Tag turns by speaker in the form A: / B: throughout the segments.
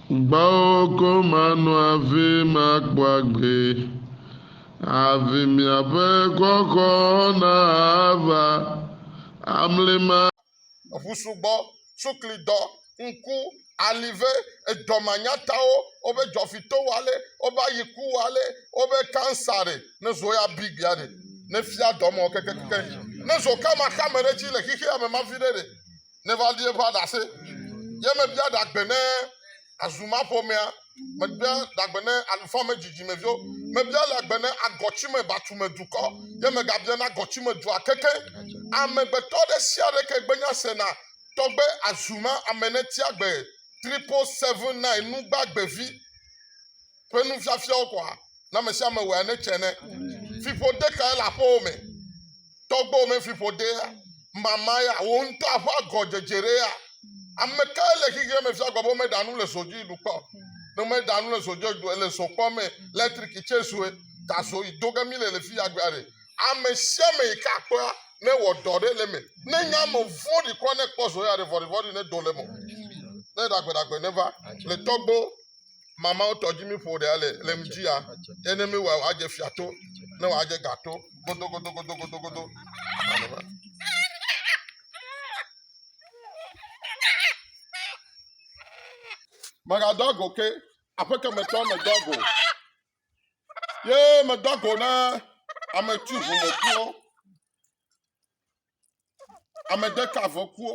A: Gbɔwò ko mano avi makpɔ agbe, Avi miaƒe xɔxɔ nava amlima. Eŋu sugbɔ,
B: suklidɔ, ŋku, alive, edɔmanyatawo, wobe dzɔfitowale, wobe ayikuwale, wobe kansare, ne zo ya bi gbea ɖe, ne fia dɔmɔ kekekeke yi, ne zo kama xame ɖe dzi le xixeame mavi ɖe ɖe. neva li eƒe aɖase. Ye mebia ɖagbe ne Azumaƒomea, mebia ɖagbe ne Alufame-dzidzimeviwo, mebia ɖagbe ne Agɔtsimebatume-dukɔ, ye megabia na Agɔtsimedua keke. Amegbetɔ ɖe sia ɖe ke gbenya sena tɔgbe Azuma-amenetiagbe 777 nugbagbɛvi. ƒe nufiafiawo ko hã. Ne ame sia ame wɔe ne tse ne. Fiƒode kae le aƒewo me? Tɔgbewo me fiƒodea? Mama ya? Wò ŋutɔ aƒe agɔdzedze ɖe ya? Ame kae le xexea me fia gbe be meɖa nu le zo dzi ɖu kpɔ? Ne meɖa nu le zo dzi ɖu le zo kpɔ me, letriki tse zoe, ta zo yi do ge mi le le fi ya gbea ɖe. Ame sia ame yi ke akpɔa ne wɔ dɔ ɖe le me. Ne nye ame vɔ̃ɖi kɔ ne kpɔ zo ya ɖe vɔɖivɔɖi ne do le me. Ne ɖagbeɖagbe ne va le tɔgbewo. mamawo tɔ dzi míƒo ɖe ale le ŋdi ya ye ne míwɔe wòadze fia to ne wòadze ga to godogodogodogodogodo megadɔ ago ke aƒeke metɔ medɔ ago ye medɔ ago na ame tu ʋumekuwo ame deka vɔkuwo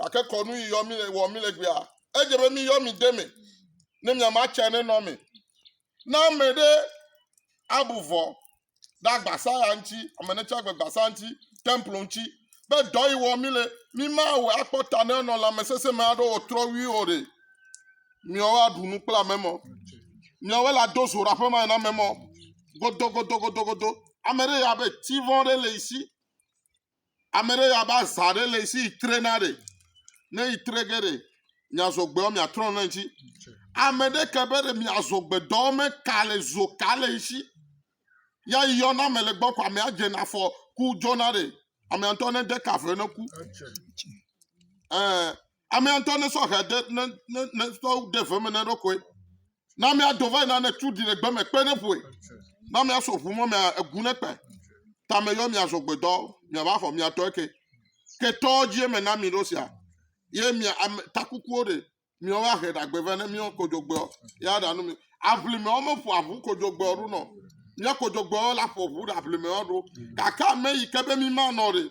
B: Gake kɔnu yi yɔ mi le wɔ mi le gbea. Edze be mi yɔ mi de me. Ne mi ama tse ne nɔ me. Na me ɖe abu vɔ ɖe agbasa ya ŋuti, ame ne tse agbe gbasa ŋuti, templo ŋuti. Be dɔ yi wɔ mi le, mi ma awɔ akpɔ ta ne nɔ lame sese me aɖo wɔ trɔ wi o ɖe. Mi wɔ aɖu nu kple ame mɔ. Mi wɔ la do zora ƒe ma na me mɔ. Godo godo godo godo. Ame ɖe ya be tivɔ ɖe le isi. Ame ɖe yɔ abe azã ɖe le esi yi trena ɖe. Ne yi tre ge ɖe, miazɔ gbeɔ miatrɔ nɔ ŋuti. Ame ɖe ke be ɖe miazɔ gbedɔ me ka le zo ka le esi. Ya yi yɔna ame le gbɔ ko ame adze na fɔ ku dzɔna ɖe. Ame ŋutɔ ne de ka vɛ ne ku. Ɛɛ. Amea ŋutɔ nesɔ hɛ de ne ne ne tɔwo de ve me ne ɖokoe. Na amea do va yina ne tu ɖi le gbe me kpe ne ƒoe. Na amea so ʋu mɔ mea egu ne kpe. Ta me yɔ mia zɔ gbedɔ mia va xɔ mia tɔe ke. Ke tɔ dzi eme na mi ɖo sia. Ye mia ame takukuwo ɖe mia wa hɛ ɖagbe ve ne mia kodjogbeɔ ya ɖa nu mi. Aʋlimeɔ me ƒo aʋu kodjogbeɔ ɖo nɔ. Mia kodjogbeɔ la ƒo ʋu ɖe aʋlimeɔ ɖo. Gake ame yi ke be mi ma nɔ ɖe.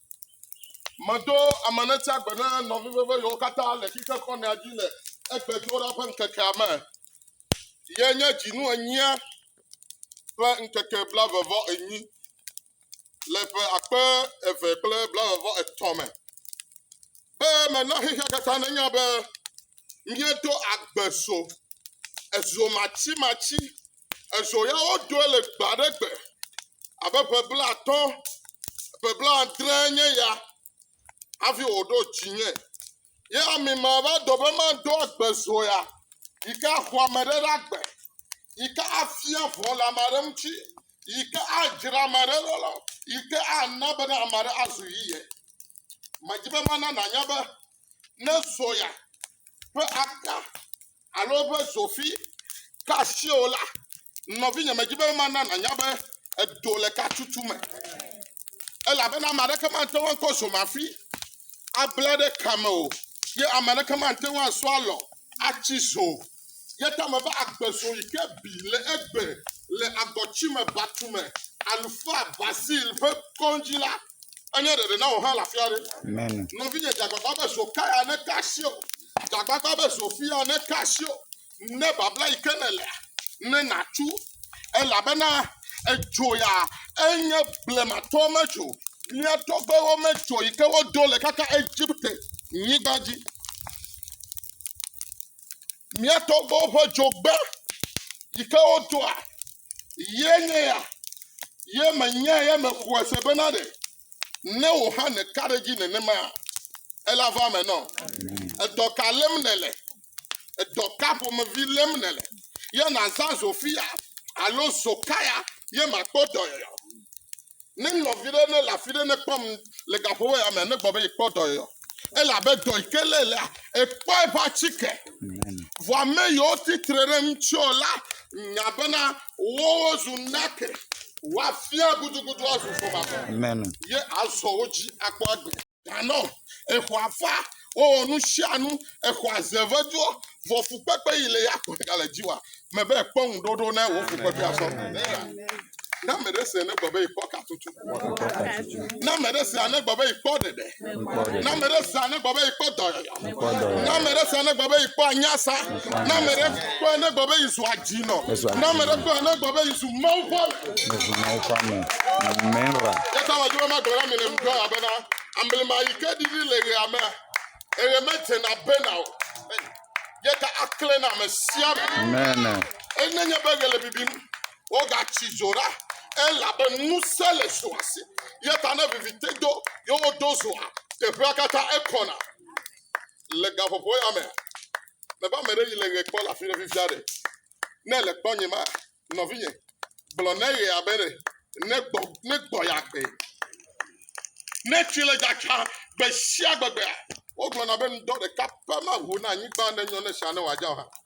B: Meɖo ame ne tsia gbe ne nɔvi veve yewo katã le xixe kɔnɛa dzi le egbedoɖa ƒe ŋkekea me. Ye nye dzinu enyia ƒe ŋkeke blavevɔ enyi le ƒe akpe eve kple blavevɔ etɔ̃ me. Be mena xexea katã nanya be míeɖo agbe zo, ezo matsimatsi, ezo ya woɖoe le gbe aɖe gbe abe ƒe blaatɔ̃, ƒe blaadre nye ya hafi wòɖo dzinye. Ye ami ma va dɔ be maɖo agbe zo ya yi ke axɔ ame ɖe ɖe agbe, yi ke afia vɔ̃ le ame aɖe ŋuti, yi ke adzra ame aɖe ɖo la, yi ke ana be ne ame aɖe azu yiyɛ. Medi be mana nànya be ne soya ƒe aka alo eƒe zofi ka asiwò la, nɔvinye, medi be mana nànya be edo le ka tutu me. Elabena ame aɖeke mate ŋu akɔ zomafi abla ɖe ka me o ye ame aɖeke mate ŋu asɔ alɔ atsi zo o. Ye ta me be agbe zɔ yi ke bi le egbe le agɔtsime batu me. Alufaa Basil ƒe kɔŋdzi la enye ɖeɖe na wò hã le afi aɖe. Amen. Nɔvinye,
C: dze agbagba be
B: Zokaya neka asi o. Dze agbagba be Zofia neka asi o. Ne babla yi ke nèlea, ne nàtu. Elabena èdzo ya, enye blematɔwo medzo. Mía tɔgbewo medzo yi ke wodo le kaka Egipte nyigba dzi. Mía tɔgbuiwo ƒe dzogbe yi ke wodoa ye nye ya ye menye ye mexɔe se bena ɖe ne wò hã nèka ɖe edzi nenema ele ava eme nɔ. Edɔ ka lém nèle? Edɔ ka ƒomevi lém nèle? Ye nàzã Zofia alo Zokaya ye màkpɔ dɔyɔyɔ. Ne nɔvi ɖe ne le afi ɖe ne kpɔm le gaƒoƒo ya me ne gbɔ be yekpɔ dɔ yɔ, elabe dɔ yi ke lé lea, ekpɔ eƒe atike. Vɔ ame yiwo ti tre ɖe ŋuti la nya bena wowo zu nake, woafia gudugudu azu fɔmazɔ, ye
C: azɔ wo
B: dzi akpɔ agbe. tanɔ. Exɔ afa, wowɔ nu sia nu, exɔ aze veduɔ, vɔ fukpekpe yi le ya kpɔtɔ gale dzi wa me be ekpɔ ŋuɖoɖo ne wo fukpekpe asɔ. Na me ɖe se ne gbe be ekpɔ katutu. Na me ɖe se ne gbe be ekpɔ ɖeɖe. Na me ɖe se ne gbe be ekpɔ dɔyɔyɔ. Na ame ɖe sia ne gbe be yi kpɔ anya sa. Na ame ɖe kpɔ ne gbe be yi zu adzi nɔ. Na ame ɖe kpɔ ne gbe be yi zu mawu kpɔ. Ne zu mawu kpɔ me. Mera. Yesa wa juma gbe la me le mdɔ ya bena. Amble ma yi ke di di le ye ame. Eye me dze na bena o. Yeta akle na me sia. Amen. Enye
C: nye be
B: gele bibim. Wogatsi dzo ɖa, elabe ŋusẽ le zoa si. Eya ta ne viviti do, ye wodo zoa, teƒea katã ekɔna. Le gaƒoƒo ya mea, mebe ame ɖe yi le ɣe kpɔ le afi ɖe fifia ɖe? Ne èle kpɔ nye ma, nɔvinye, gblɔ ne ɣea be ɖe negbɔ, negbɔ yeagbe. Ne tsi le dzadzam gbe sia gbegbea, wogblɔna be ŋdɔ ɖeka pɛ maʋu na anyigba ne nyɔ ne sia ne wòadzɔ hã.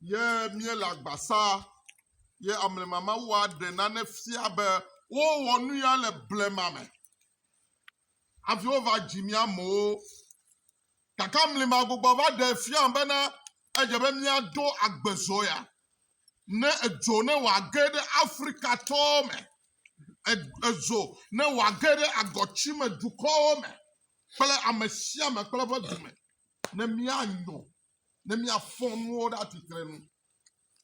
B: ye míele agbasa ye amlemamawu aɖe nane fia be wowɔ nu ya le blema me hafi wova dzi mía amewo. Gake amlima gbogbo va ɖe fia bena edze be míado agbezɔ ya. Ne edzo ne wòage ɖe Afrikatɔ me, edzo ne wòage ɖe agɔtsime dukɔwo me kple ame sia ame kple eƒe dume ne míanyo ne míafɔ nuwo ɖe atsitre nu.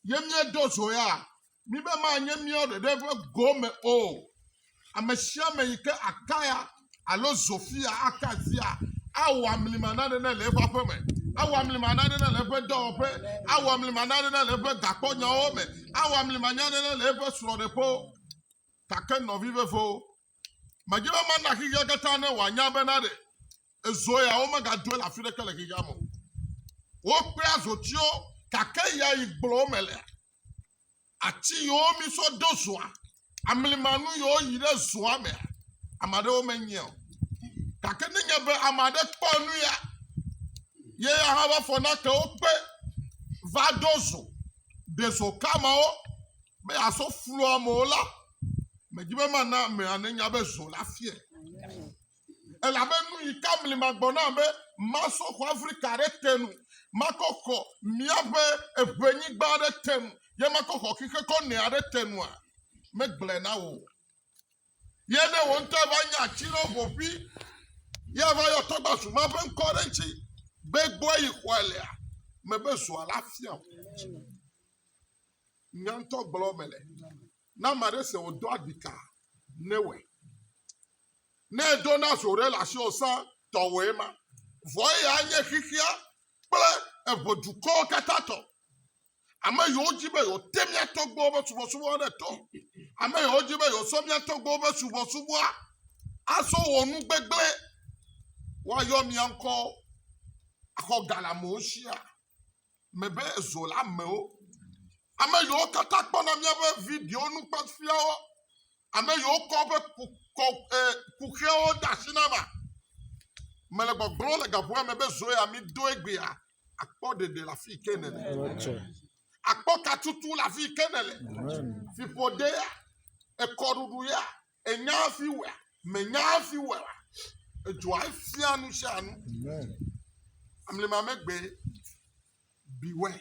B: Ye míedo zo ya, míbe manye míawo ɖeɖe ƒe gome o. Ame sia ame yi ke akaya alo zofia aka asia awɔ amlima nane ne le eƒe aƒe me, awɔ amlima nane ne le eƒe dɔwɔƒe, awɔ amlima nane ne le eƒe gakpɔnyawo me, awɔ amlima nane ne le eƒe srɔ̃ɖeƒewo. Gake nɔvi vevewo, Medi be mana xexea katã ne wòanya bena ɖe ezo ya womegadoe le afi ɖeke le xexea me o. Wokpea zotiwo gake ya yi gblɔ wome lea, ati yiwo mi sɔ ɖo zoa, amlimanu yiwo yi ɖe zoa mea, ame aɖewo menyae o. Gake nenye be ame aɖe kpɔ nu ya, ye ya hã va fɔ nake wo kpe va ɖo zo, ɖe zo ka mawo be yeaso flu amewo la, Medi be mana amea nenya be zɔ la fie. Elabe nu yi ka mli magbɔ na be masɔ xɔ Afrika ɖe te nu, makɔ xɔ míaƒe eŋenyigba ɖe te nu, ye makɔ xɔ xixe kɔ nɛ aɖe te nua? Megblɔe na wò. Ye ne wò ŋutɔ va nya atsi ɖe wo ƒoƒi, ye va yɔ tɔgbasu ma ƒe ŋkɔ ɖe ŋutsi be gbɔe yi xɔe lea, mebe zɔa la fia o. Nyantɔ gblɔ mele. Na ame aɖe se wòdo agbika ne wòe. Ne edo na zo ɖe le asi wòsa tɔwɔe ma. Vɔ eya nye xexea kple eŋe dukɔwo katã tɔ. Ame yiwo di be yewote mía tɔgbuiwo ƒe subɔsubɔa ɖe to. Ame yiwo di be yewosɔ mía tɔgbuiwo ƒe subɔsubɔa azɔ wɔ nu gbegblẽ. Woayɔ mía ŋkɔwo axɔ ga le amewo sia. me be zo la mewo. Ame yiwo katã kpɔna míaƒe video nukpɔfiawo, ame yiwo kɔ woƒe kuxewo de asi na ma, mele gbɔgblɔ le gaƒoa me be zo ya mi do egbea, akpɔ ɖeɖe le afi ke nele. Akpɔ katutu le afi ke nele. Fiƒode ya, ekɔɖuɖu ya, Ènya hafi wɔa? Mènya hafi wɔa? Edzɔa efia nu sia nu. Amlima megbe, beware.